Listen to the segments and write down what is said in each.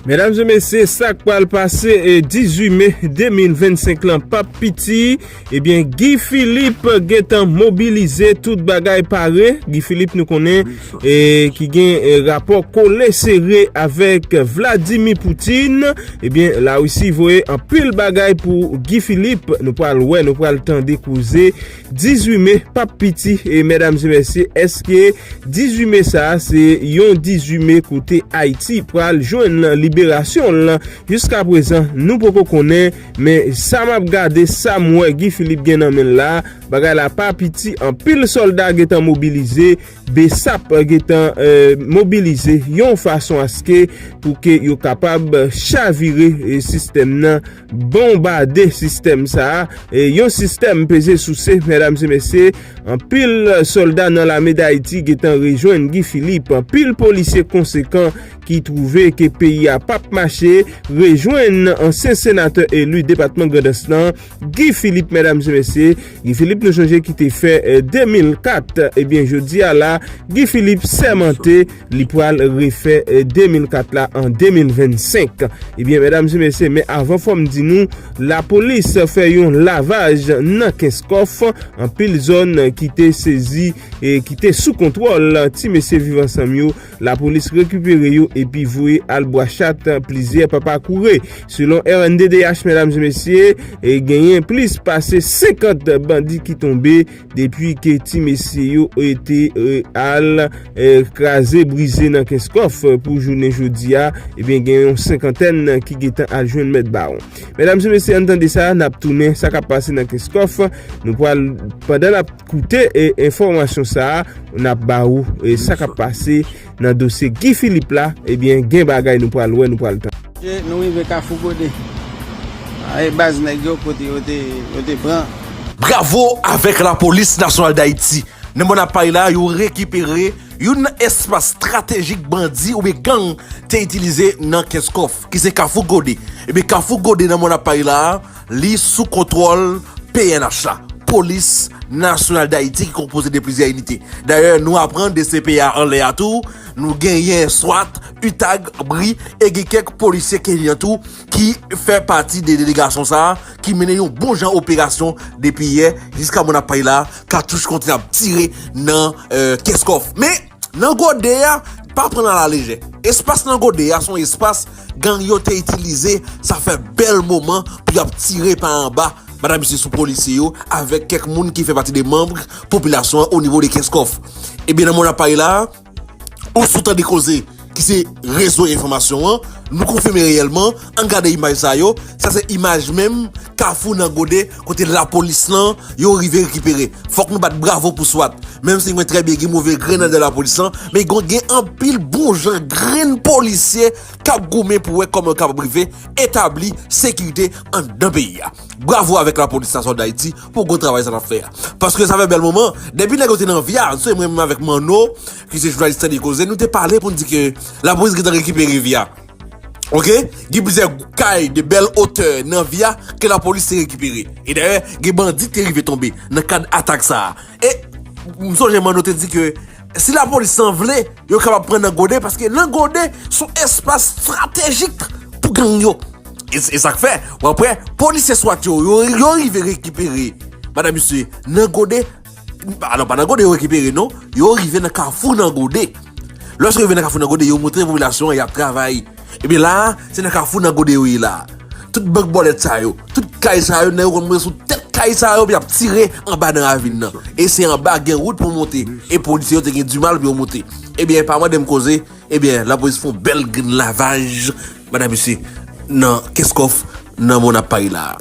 Medam e mesye sak pral pase 18 me 2025 lan pap piti ebyen Guy Philippe gentan mobilize tout bagay pare Guy Philippe nou konnen ki gen rapò kole sere avèk Vladimir Poutine ebyen la russie voye anpil bagay pou Guy Philippe nou pral wè nou pral tande kouze 18 me pap piti medam e mesye eske 18 me sa se yon 18 me kote ayiti pral jwenn nan liberasyon l lan jiska prezan nou poko konnen men sa map gade sa m wè Guy Philippe gen nan menl la bagay la pa piti anpil solda gentan mobilize besap gentan mobilize yon fason aske pou ke yo kapab chavire sistèm nan. Bonbade sistèm sa a, yon sistèm peze souse mèdam se mesye, anpil sòlda nan lame dayiti getan rejwenn Guy Philippe, anpil polisye konsekan ki twouve ke peyi a pap mache rejwenn ansyen senatè eli depatman grandans lan Guy Philippe mèdam se mesye, Guy Philippe nou sonje ki te fè 2004 ebyen jodi a la Guy Philippe sèmante. Li pral refè 2004 la an 2025. Ebyen medam e mesye men avan fòm di nou la polis fè yon lavaj nan kenskòf anpil zòn ki te sezi e ki te sou kontwòl ti mesye viv ansanm yo la polis rekipere yo epi voye al bwa chat plizyè papa koure selon rnddh medam e mesye e genyen plis pase 50 bandi ki tonbe Depi ke ti mesye yo te al kraze brize nan kenskof pou jounen jodi a, ebyen gen yon senkantèn ki gentan al jwenn mèt bawon. Medam se mesye ann tande sa, nap tounen sa kap pase nan kenskof, nou pral pandan nap koute enfòmasyon sa, nap ba ou sa kap pase Nan dosye Guy Philippe la, ebyen gen bagay nou pral wè, nou pral tande. Ok nou rive kafou gode. A e baz neg yo kote yo te yo te pran. Bravo avèk lapolis nasyonal dayiti. Nan mòn apay la yo rekipere youn nan espas stratejik bandi oubyen gang te itilize nan kès kòf ki se kafou gode. Ebyen kafou gode nan mòn apay la. Li sou kontwòl pnh la, Polis Nasyonal Dayiti ki konpoze de plizyè inite. Dayè nou aprann dcpya anlè a tou, nou genyen swat, utag, bri e gen kèk polisye kenyan tou ki fè pati de delegasyon sa a ki mennen yon bon jan operasyon depi yè jiska mwen ap pale la a katouch kontinye ap tire nan kès kòf. Men! Nan gode a, pa pran l a la lejè. Espas nan gode a se yon espas gang yo te itilize, sa fè bèl moman pou y ap tire pa anba Mada Misye sou polisye yo avèk kèk moun ki fè pati de manm popilasyon an onivo de Kenskòf. Ebyen nan moman n ap pale la a, ou sou tande koze. ki se rezo enfòmasyon an, nou konfime reyèlman, ann gade imaj sa yo, sa se imaj menm kafou nan gode kote lapolis lan yo rive rekipere, fòk nou bat bravo pou swat, menm si nou konnen trè byen gen move grenn andan lapolis lan, men gen anpil bon jan grenn polisye kap goumen pou wè kòman yo kapab rive etabli sekirite andan peyi a, bravo avèk lapolis nasyonal dayiti pou gwo travay sa nap fè a, paske sa fè bèl moman, depi nèg yo te nan via, mwen menm avèk Manno. Mesye jounalis tande koze nou te pale pou n di ke lapolis gentan rekipere via ok gen plizyè kay de bèl otè nan via ke lapolis te rekipere e dayè gen bandi ki te rive tonbe nan kad atak sa a e m sonje manno te di ke si lapolis san vle yo kapab pran nan gode paske nan gode son espas stratejik pou gang yo e sa k fè w ap wè polisye swat yo yo rive rekipere madan misye nan gode. Ah non, pa nan gode yo rekipere non, yo rive nan kafou nan gode. Lòs yo rive nan kafou nan gode, yo montre popilasyon an y ap travay. Ebyen la a, se nan kafou nan gode yo ye la a. Tout bank bòlèt sa yo, tout kay sa yo, nèg yo konn monte sou tèt kay sa yo pou y ap tire anba nan ravin nan. E se anba gen wout pou monte. E polisye yo te gen dimal pou yo monte. Ebyen, pa mande m koze, ebyen, lapolis fon bèl grenn lavaj, madan mesye, nan Kenscoff, nan mò n ap pale la a.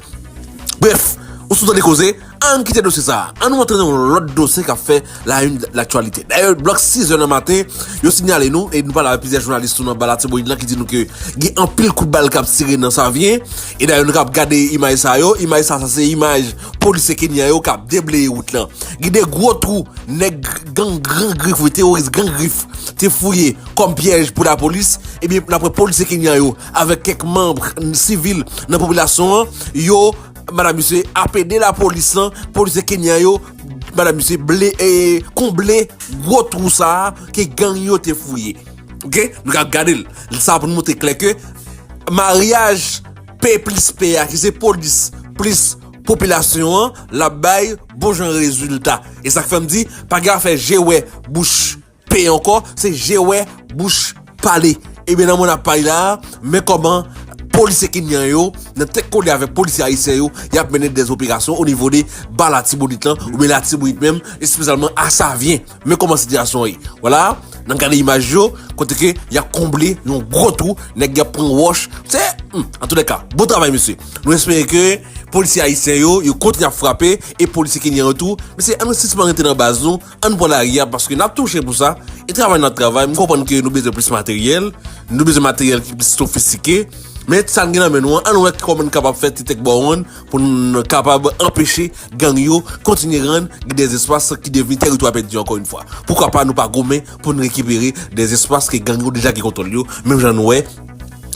Brèf, ou sou tande koze? Ann kite dosye sa a, annou antre nan yon lòt dosye k ap fè la une laktyalite. Dayè, blòk 6 zè nan maten, yo sinyale nou, e nou pale avèk plizyè jounalis tou nan ba Latibonit lan ki di nou ke gen anpil kout bal k ap tire nan Savyen, e dayè nou kapab gade imaj sa yo, imaj sa sa se imaj polisye Kenyan yo k ap debleye wout lan. Gen de gwo twou nèg gang Gran Grif, wi teworis Gran Grif te fouye kòm pyèj pou lapolis, ebyen n ap wè polisye Kenyan yo avèk kèk manb sivil nan popilasyon an, yo. Madame misye ap ede la polis lan, polisye kenyan yo, madame misye ble e konble gwo twou sa a ke gang yo te fouye. Ok, nou ka gade l. Sa a pou nou montre klè ke maryaj P plis P a ki se polis plis popilasyon an l ap bay bon jan rezilta. E sa k fè m di pa gen afè je wè bouch. Peye ankò se je wè bouch pale. Ebyen nan moman nap pale la men kòman polisye kenyan yo nan tèt kole avèk polisye ayisyen yo yap mennen dè operasyon o nivo de ba latibonit lan oubyen latibonit menm espesyalman a savyen men kòman sitiyasyon an ye wala nan gade imaj yo kote ke yap konble yon gwo twou nèg yap pran wòch se humm antoulèka bon travay mesye nou espere ke polisye ayisyen yo yo kontinye ap frape e polisye kenyan yo tou mesye an nou sispann rete nan baz nou. Ann pran lari a paske nap touche pou sa, e travay nan travay, m konprann ke nou bezwen plis materyèl, nou bezwen materyèl ki plis sofistike, men sa n gen nan men nou an, ann wè kòman n kapab fè ti tèk bawonn pou n kapab anpeche gang yo kontinye rann gen dè espas ki devni tèritwa pèdi ankò yon fwa. Poukwa pa nou pa goumen pou n rekipere dè espas ke gang yo deja gen kontwòl yo, menm jan n wè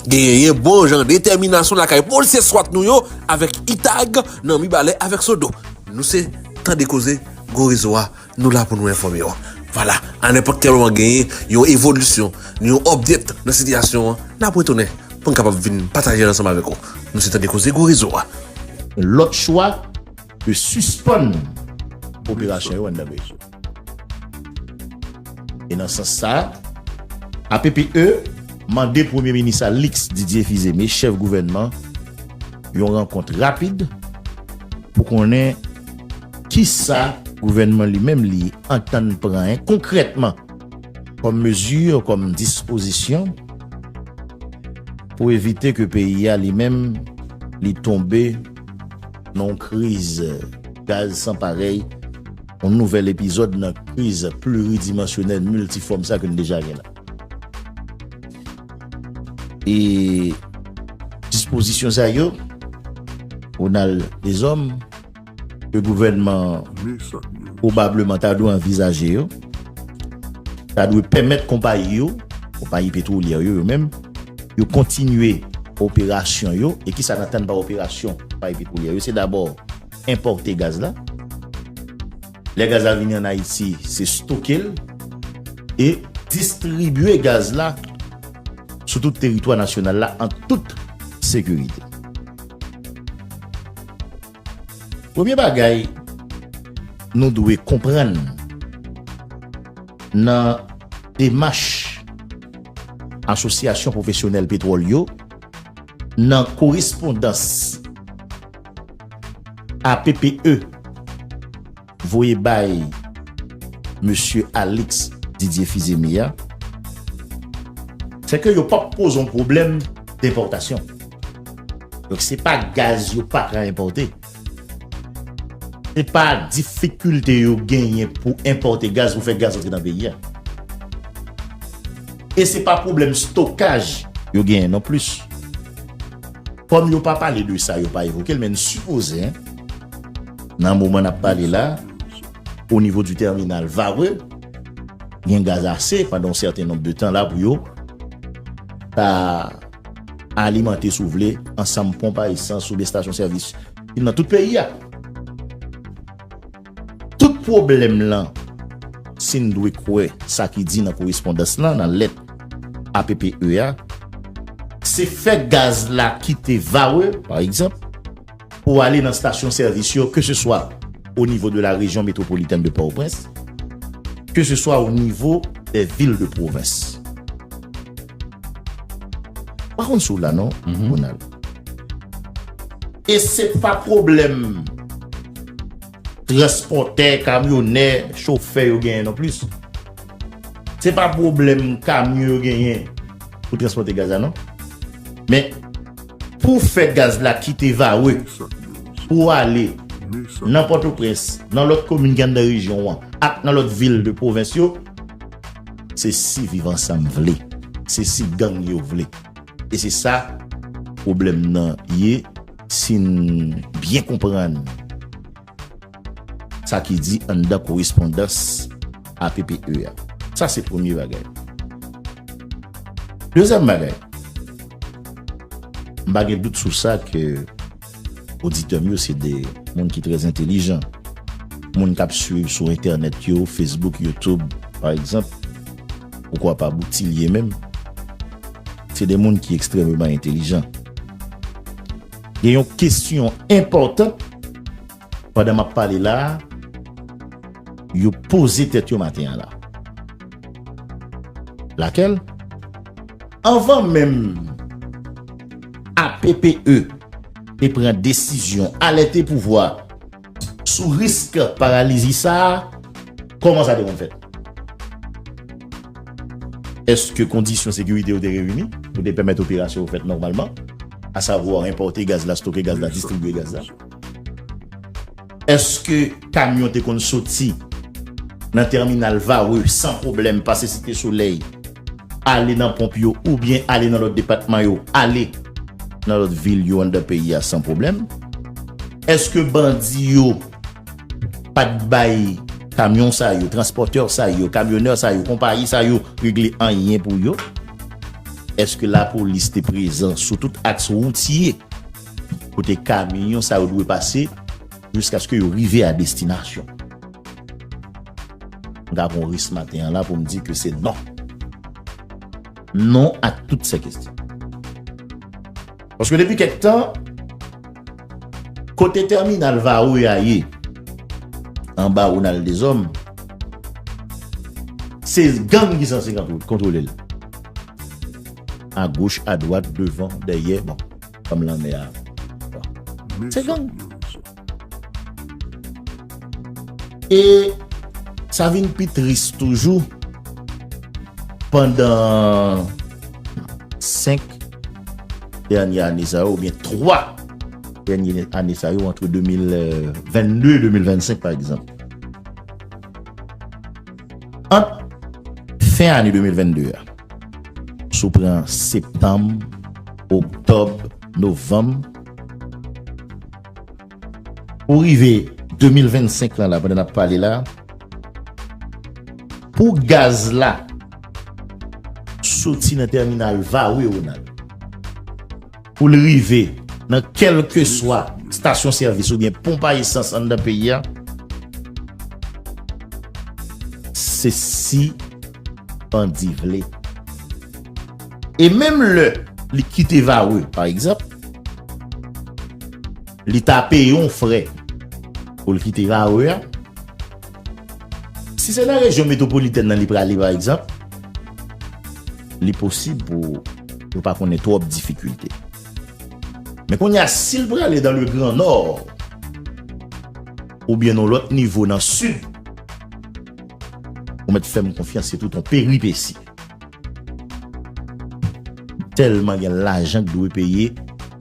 genyen bon jan detèminasyon lakay polisye swat nou yo avèk itag nan mibalè avèk sodo. Nou se tande koze. Gwo rezo a, nou la pou nou enfòme w. Vwala, a nenpòt kèl moman genyen yon evolisyon, ni yon update nan sitiyasyon an, n ap retounen pou n kapab vin pataje l ansanm avèk ou. Nou se Tande Koze Gwo Rezo a. Lòt chwa ke sispann operasyon yo anndan Venezuela. E nan sans sa, APPE mande Premye Minis Alix Didier Fils-Aimé, chèf gouvènman, yon rankont rapid pou konnen. Kisa gouvènman li menm li antann pran konkrètman kòm mezi, kòm dispozisyon pou evite ke peyi a li menm li tonbe nan yon kriz gaz san parèy, yon nouvèl epizòd nan kriz pluridimansyonèl miltifòm sa ke nou deja gen la? E dispozisyon sa yo, Ronald Deshommes, ke gouvènman an pwobableman ta dwe anvizaje yo, ta dwe pèmèt konpayi yo, konpayi petwolyè yo yo menm, yo kontinye operasyon yo, e kisa n atann pa operasyon konpayi petwolyè yo, se dabò enpòte gaz la, lè gaz la vini an Ayiti, se stoke l, e distribye gaz la sou tout teritwa nasyonal la an tout sekirite. Premye bagay nou dwe konprann nan demach Asosyasyon Pwofesyonèl Petwòl yo nan korespondans APPE, Voye bay Mesye Alix Didier Fizeme a. Sèke yo pap poze yon pwoblèm denpòtasyon. Donk se pa gaz yo pa ka enpòte. Se pa difikilte yo genyen pou enpòte gaz, pou fè gaz antre nan peyi a. E se pa pwoblèm stokaj yo genyen non plis. Kòm yo pa pale de sa, yo pa evoke l, men n sipoze. Nan moman n ap pale la, onivo di tèminal Varreux, gen gaz ase pandan yon sèten nonb de tan la pou yo ka alimante, si w vle, ansanm ponp a esans oubyen stasyon sèvis ki nan tout peyi a. Tout pwoblèm lan, si n dwe kwè sa ki di nan korespondans lan, nan lèt APPE a, se fè gaz la kite Varreux, pa egzanp, pou w ale nan stasyon sèvis yo ke se swa o nivo de la rejyon metwopolitèn de Pòtoprens, ke se swa o nivo dè vil de pwovens. M pa konn si w la non, Ronald. E se pa pwoblèm transpòtè, kamyonè, chofè yo genyen non plis. Se pa pwoblèm kamyon yo genyen pou transpòte gaz la non. Men. Pou w fè gaz la kite Varreux pou w ale nan Pòtoprens, nan lòt komin ki anndan rejyon an ak nan lòt vil de pwovens yo, se si Viv Ansanm vle, se si gang yo vle. E se sa pwoblèm nan ye si n byen konprann. Sa ki di anndan korespondans APPE a. Sa se premye bagay. Dezyèm bagay, m pa gen dout sou sa ke oditè m yo se de moun ki trè entelijan. Moun k ap suiv sou entènèt yo, Facebook, YouTube, pa egzanp, poukwa pa Boutilye menm, se de moun ki ekstrèmeman entelijan. Gen yon kesyon enpòtan pandan m ap pale la a yo poze tèt yo maten an la. Lakèl? Anvan menm APPE te pran desizyon alète pouvwa, Sou risk paralizi sa a, kòman sa te konn fèt? Èske kondisyon sekirite yo te reyini pou te pèmèt operasyon yo fèt nòmalman, asavwa enpòte gaz la, stoke gaz la, distribye gaz la? Èske kamyon te konn soti nan tèminal Varreux san pwoblèm pase Site Solèy, ale nan ponp yo oubyen ale nan lòt depatman yo, ale nan lòt vil yo anndan peyi a san pwoblèm? Eske bandi yo pat bay kamyon sa yo, transpòtè sa yo, kamyonè sa yo, konpayi sa yo regle anyen pou yo? Eske lapolis te prezan sou tout aks woutye kote kamyon sa yo dwe pase jiskaske yo rive a destinasyon? M ka pran risk maten an la pou m di ke se non. Non a tout se kestyon. Paske depi kek tan, kote terminal Varreux ya ye, anba Ronald Deshommes, se gang ki sanse kontrole l. A goch, a dwat, devan, dèyè, bon, kom lanmè a. Se gang. E sa vin pi tris toujou pandan 5 dènye ane sa yo ou byen 3 dènye ane sa yo antre 2022 et 2025 pa egzanp. Ant fen ane 2022 a, sou pran septanm, oktob, novanm, Pou rive 2025 lan la pandan nap pale la pou gaz la soti nan tèminal Varreux Ronald pou l rive nan kèlkeswa stasyon sèvis oubyen ponp a esans anndan peyi a se si bandi vle. E menm lè li kite Varreux, pa egzanp, li ta peye yon frè pou l kite Varreux a. Si se nan rejyon metwopolitèn nan li prale, pa egzanp, li posib pou yo pa konnen twòp difikilte. Men kounye a, si l prale dan le gran nò, oubyen yon lòt nivo nan sid, Ou mèt fèm konfyans se tout on peripesi. Tèlman gen lajan k dwe peye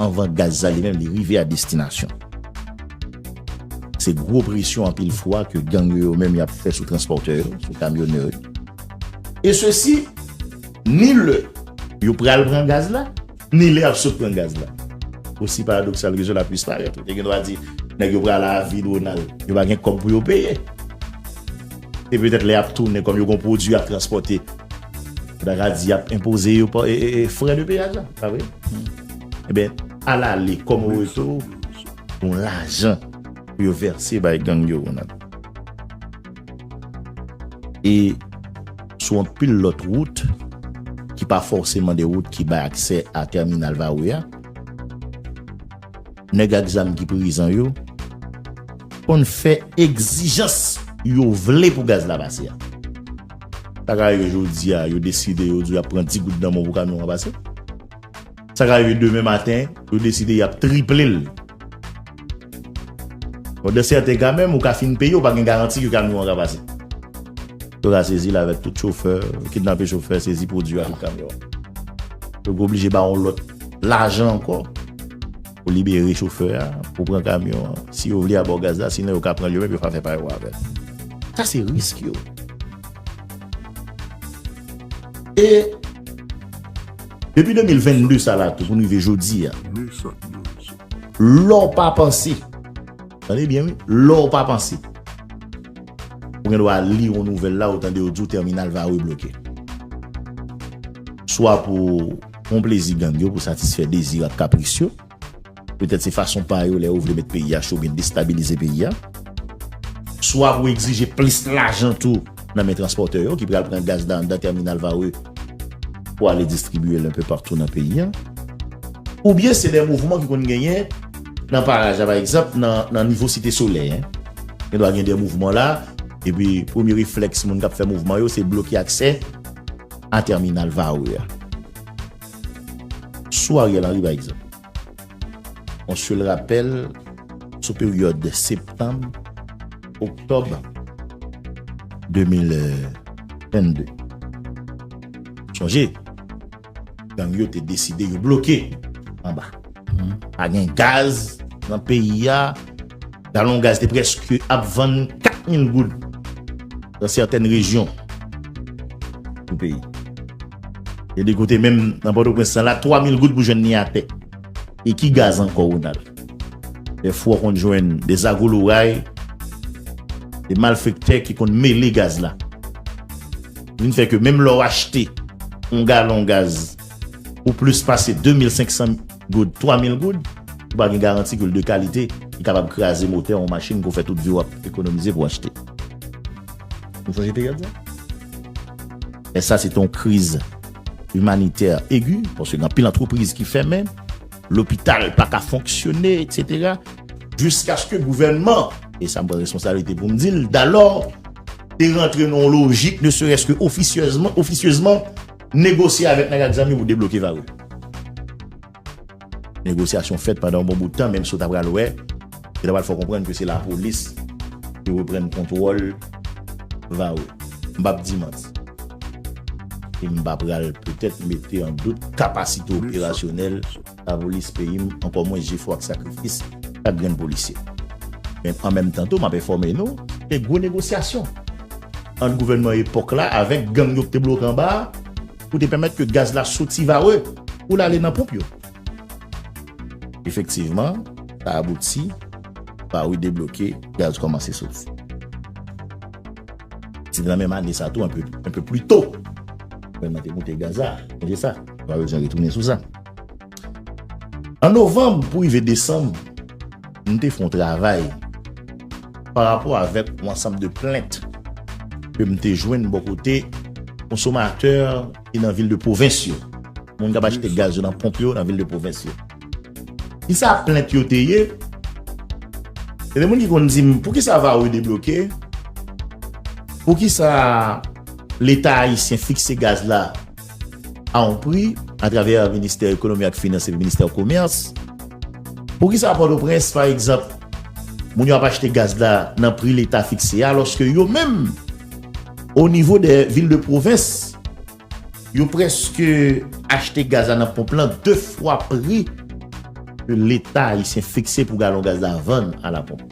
anvan gaz la li menm li rive a destinasyon. Se gwo presyon anpil fwa ke gang yo yo menm y ap fè sou transpòtè yo, sou kamyonè yo. E sesi ni lè yo pral pran gaz la. ni lè y ap sot pran gaz la. Osi paradoksal ke sela pwis parèt, ou te gen dwa di, nèg yo pral avi Donald, yo pa gen kòb pou yo peye. E petèt lè y ap tounen, kòm yo gen yon pwodui y ap transpòte, yo ta ka di y ap enpoze yo frè de peyaj la, pa vre? Enben, alale kòm reto, yon lajan pou yo vèse bay gang yo, Ronald. E sou anpil lòt wout ki pa fòseman de wout ki bay aksè a tèminal Varreux a, nèg ak zam ki prezan yo konn fè egzijans yo vle pou gaz la pase a. Sa ka rive jodi a, yo deside yo di yo ap pran 10 goud nan mò pou kamyon an pase. Sa ka rive demen maten, yo deside y ap triple l. Bon, dan sèten ka menm, ou ka fin peye, ou pa gen garanti ke kamyon an ka pase. Yo ka sezi l avèk tout chofè, kidnape chofè, sezi pwodui a ak kamyon an. Yo ka oblije ba yon lòt lajan ankò. Ou libere chofè a pou pran kamyon an. Si yo vle a ba w gaz la, sinon yo ka pran l yo menm yo ka fè pa yo avè l. Sa se risk yo. E depi 2022 sa la tou pou nou rive jodi a, lè w pa panse, tande byen wi, lè w pa panse, ou gen dwa li yon nouvèl la ou tande yo di w tèminal Varreux bloke. Swa pou. Fon plezi gang yo pou satisfè dezi ak kapris yo. Petèt se fason pa yo lè yo vle met peyi a cho oubyen destabilize peyi a. Swa pou egzije plis lajan tou nan men transpòtè yo ki pral pran gaz la anndan tèminal Varreux pou ale distribye l enpe patou nan peyi a. Oubyen se de mouvman ki konn genyen nan paraj la pa egzanp nan nivo Site Solèy. Gen dwa gen de mouvman la epi premye reflèks moun k ap fè mouvman yo se bloke aksè. a tèminal Varreux a. Sou Ariel Henry pa egzanp, yon sèl rapèl sou peryòd septanm, oktòb 2022. Sonje, gang yo te deside yo bloke anba. Pa gen gaz nan peyi a, galon gaz te prèske ap vann 4 mil goud. Nan sètèn rejyon nan peyi. Gen de kote menm nan Pòtoprens la, 3 mil goud pou jwenn ni atè. E ki gaz ankò Ronald? Dè fwa w konn jwenn de zagoloray, de malfektè ki konn mele gaz la. Ki vin fè ke menm lè w achte yon galon gaz pou plis pase 2500. Goud, 3000 goud, ou pa gen garanti ke l de kalite, li kapab kraze motè yon machin ke w fè tout vi w ap ekonomize pou w achte. Nou sonje peryòd sa? Men sa se te yon kriz imanitè egi, paske gen anpil antrepriz ki fèmen, lopital pa ka fonksyone, eksetera, jiskaske gouvènman, e sa m pran responsablite pou m di l, dalò, te rantre nan yon lojik, ne serès ke ofisyezman, Negosye avèk nèg ak zanmi pou debloke va ou. Negosyasyon fèt pandan yon bon bout tan menm si w ta pral wè, yo ta pral fè w konprann ke se lapolis ki reprann kontwòl va ou. M p ap di manti e m pa pral petèt mete an dout kapasite operasyonèl. Pa polis peyi m ankò mwen jefò ak sakrifis chak grenn polisye. Men an menm tan tou m ap enfòme nou ke gwo negosyasyon ant gouvènman epòk la avèk gang yo ki te bloke anba a pou te pèmèt ke gaz la soti Varreux pou l ale nan ponp yo. Efektivman sa abouti, Varreux debloke, gaz kòmanse soti. Se te nan menm ane sa tou, un peu plus tôt, gouvènman te moute gaz la, sonje sa, nou pa bezwen retounen sou sa. An novanm pou rive desanm, nou te fè yon travay pa rapò avèk yon ansanm de plent ke m te jwenn bò kote konsomatè ki nan vil de pwovens yo, moun k ap achte gaz yo nan ponp yo nan vil de pwovens yo. Kisa plent yo te ye? Gen de moun ki konn di m, poukisa Varreux debloke? Poukisa Leta ayisyen fikse gaz la? a on pri atravè Ministè Ekonomi ak Finans epi Ministè Komès. Poukisa Pòtoprens, pa egzanp, moun yo ap achte gaz la nan pri Leta fikse a alòske yo menm o nivo dè vil de pwovens, yo prèske achte gaz la nan ponp lan de fwa pri ke Leta ayisyen fikse pou galon gaz la vann a la ponp?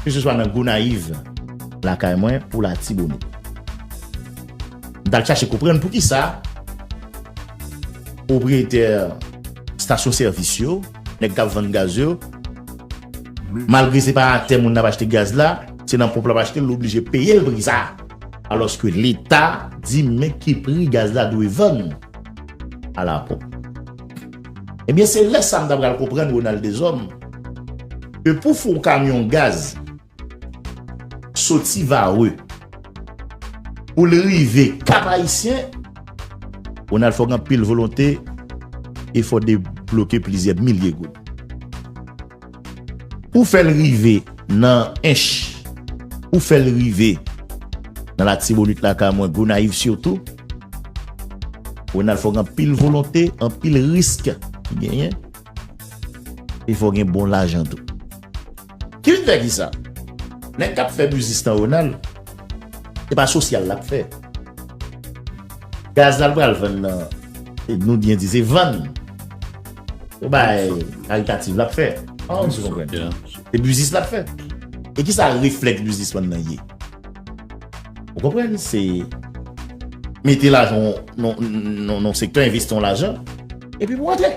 Ke se swa nan Gonayiv, lakay mwen, pou Latibonit. M t al chache konprann poukisa pwopriyetè stasyon sèvis yo, nèg k ap vann gaz yo, malgre se pa atè moun nan ap achte gaz la, se nan ponp l ap achte l, l oblije peye l pri sa a. Alòske Leta di men ki pri gaz la dwe vann. Ala bon. Ebyen se lè sa m ta pral konprann Ronald Deshommes ke pou fon kamyon gaz soti Varreux pou l rive Kap Ayisyen, Ronald fò gen anpil volonte e fò debloke plizyè milye goud. Ou fèl rive nan ench ou fèl rive nan latibonit lakay mwen gonayiv sitou Ronald fòk gen anpil volonte anpil risk ki genyen e fòk gen bon lajan tou ki vin fè kisa nèg kap fè biznis nan Ronald se pa sosyal lap fè gaz lal pral vann nan nou byen di se vann. Ou bay karitativ lap fè. Se biznis lap fè. E ki sa refleks biznis man nan ye? Ou konpren se mete lajan nan sektè, envesti yon lajan, epi pou antre.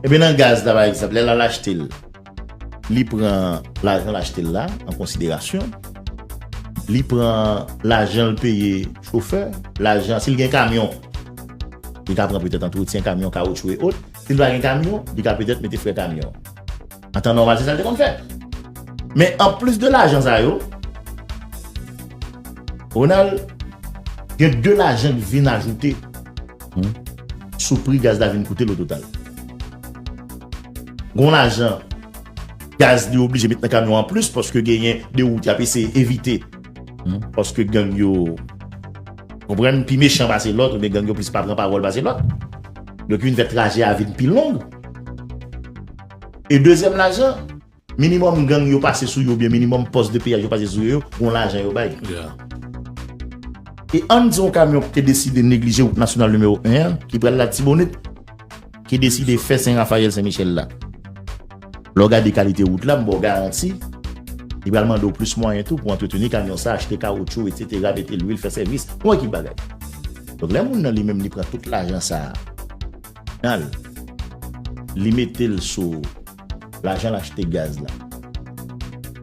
Ebe nan gaz la, lè lal achte l. Li pran lajan l achte l la an konsiderasyon. Li pran lajan l peye chofè, lajan, si l gen kamyon, li ka pran petèt antretyen kamyon, kawotchou e ot. Si l pa gen kamyon, li ka petèt mete frè kamyon. An tan nòmal, se sa l te konn fè. Men, anplis de lajan sa yo, Ronald, gen de lajan ki vin ajoute sou pri gaz la vin koute l ototal. Gon lajan gaz li oblije met nan kamyon an plis paske genyen de wout yap eseye evite paske gang yo konprann pi mechan pase lòt oubyen gang yo plis pa pran pawòl pase lòt donk youn fè trajè a vin pi long e dezyèm lajan. Minimum gang yo pase sou yo oubyen minimum post de piyaj yo pase sou yo, gon lajan yo bay. E ann di yon kamyon ki te deside neglije wout nasyonal nimewo 1 an, ki pral Latibonit, ki deside fè Sen Rafayèl Sen Michèl la. Lè w gade kalite wout la, m ba w garanti, li pral mande w plis mwayen tou pou antreteni kamyon sa, achte kawotchou etsetera, mete lwil, fè sèvis, yon ekip bagay. Donk lè moun nan li menm li pran tout lajan sa a, nan l, li mete l sou. Lajan l achte gaz la.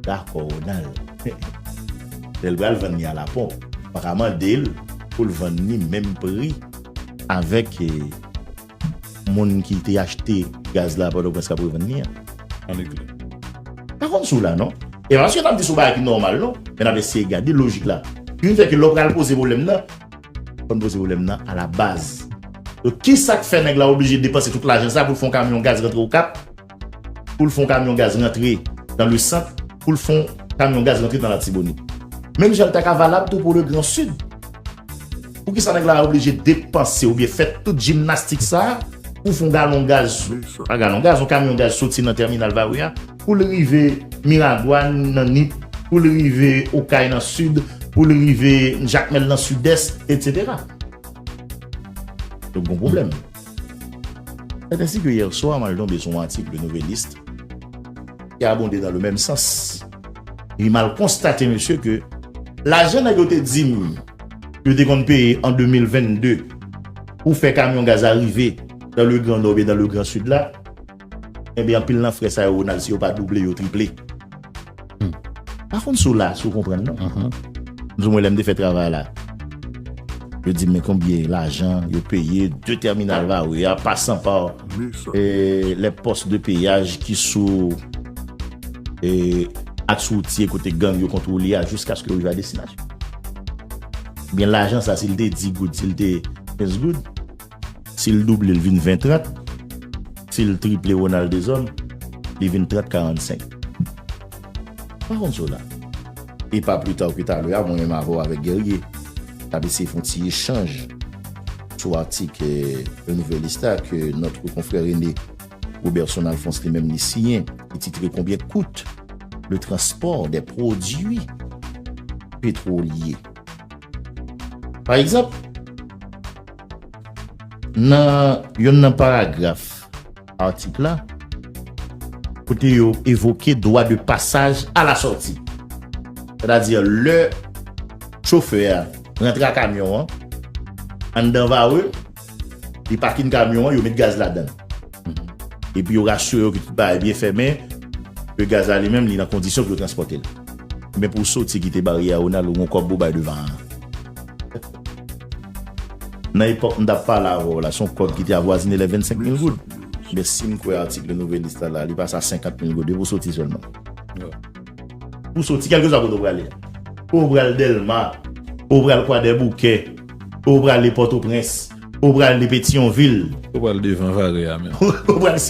Dakò Ronald. Lè l pral vann li a la ponp, ou pa ka mande l pou l vann li menm pri avèk moun ki te achte gaz la a Pòtoprens k ap revann li a. An Leklè. M pa konn si w la non. E pa paske n ap di se yon bagay ki nòmal non. Men n ap eseye gade lojik la. Ki vin fè ke lè w pral poze pwoblèm nan. Fòn poze pwoblèm nan a la baz. Donk ki sa k fè nèg la oblije depanse tout lajan sa pou l fè yon kamyon gaz rantre Okap, pou l fè yon kamyon gaz rantre dan le sant, pou l fè yon kamyon gaz rantre dan Latibonit. Menm jan l ta ka valab tou pou le gran sid. Pou ki sa nèg la oblije depanse oubyen fè tout jimnastik sa pou fè yon galon gaz, pa galon gaz, yon kamyon gaz soti nan tèminal Vawè a, pou l rive Miragwàn nan Nip, pou l rive Okay nan Sid, pou l rive Jakmèl nan Sidès, etsetera. Donk gon pwoblèm. Sèt ensi ke yèswa mwen al tonbe sou yon atik Le Nouvelliste ki abonde nan le menm sans. Epi m al konstate mesye ke lajan nèg yo te di m yo te konn peye an 2022 pou fè kamyon gaz a rive dan le Gran Nò oubyen dan le Gran Sid la, Enben anpil nan frè sa yo Ronald si yo pa double yo triple. Hum. Pa konn si w la, si w konprann non. Anhan. Di mwen lè m te fè travay la. Yo di m men konbyen lajan yo peye 2 tèminal Varreux a pa san pa les postes de péage ki sou e aks woutye kote gang yo kontwole a jiskaske yo rive a destinasyon. Ebyen lajan sa si l te 10 goud, si l te 15 goud. Si l double l vin 20 30. Si l triple Ronald Deshommes, li vin 30 45. M pa konn sa w la. E pa pli ta ke talè a, mwen menm avè w avèk Guerrier, t ap eseye fè yon ti echanj sou atik Le Nouvelliste a ke notre confrère aimé Roberson Alphonse li menm li siyen ki titre Combien coute le transport des produits pétroliers? Pa egzanp, nan youn nan paragraf atik la, kote yo evoke dwa de pasaj a la sòti, sètadi lè chofè a rantre a kamyon an anndan Varreux, Li pakin kamyon an, yo met gaz ladan l. Epi yo rasire yo ke tout bagay byen fèmen, ke gaz la li menm li nan kondisyon pou yo transpòte l. Men pou w soti kite baryè a Ronald ou gon kòb pou w bay devan an. Nan epòk m t ap pale avè w la, se yon kòb ki te avwazine lè 25 mil goud. Ebyen si m kwè atik Le Nouvelliste la, li pase a 50 mil goud depi w soti sèlman. Ou soti kèlkeswa kote ou prale a. Ou pral Dèlma, ou pral Kwadèboukè, ou prale Pòtoprens, ou prale Petyonvil. Ou pral devan Vare a menm. Ou pral.